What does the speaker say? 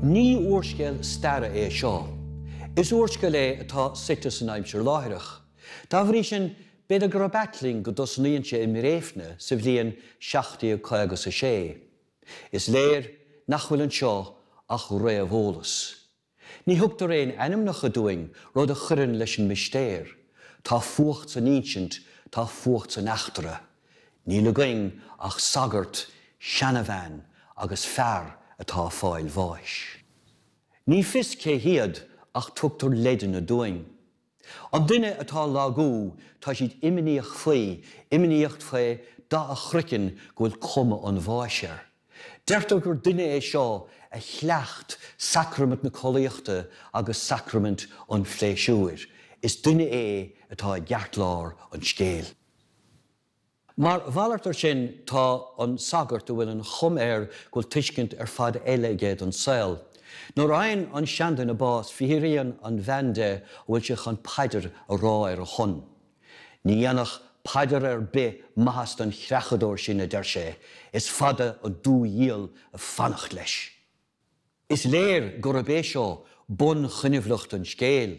Ní úrscéal staire é seo. Is úrscéal é atá suite san aimsir láithreach. Dá bhrí sin, b'fhéidir gurb ait linn go dtosnaíonn sé i mBréifne sa bhliain 1756. Is léir nach bhfuil anseo ach réamheolas. Ní thugtar aon ainmneacha dúinn, rud a chuireann leis an mistéir. Tá fuacht san insint, tá fuacht san eachtra. Níl againn ach sagart, seanabhean agus fear atá ag fáil bháis. Ní fios cé hiad ach tugtar leideanna dúinn. An duine atá ag lagú tá siad imníoch faoi, imníoch faoi dath a chroiceann go bhfuil cuma an bháis air. Deirtear gur duine é seo a chleacht sacraimint na collaíochta agus sacraimint an phléisiúir. Is duine é atá i gceartlár an scéil. Mar mhalairt air sin tá an sagart a bhfuil an chuma air go bhfuil tuiscint ar fad eile aige don saol. Nuair a fhaigheann an seanduine bás fiafraíonn an bhean de an bhfuil sé chun paidir a rá ar a shon. Ní dhéanfadh paidir ar bith maitheas don chreachadóir sin a deir sé, is fada an dúdhiabhal ag fanacht leis. Is léir gurb é seo bunchoinbhleacht an scéil.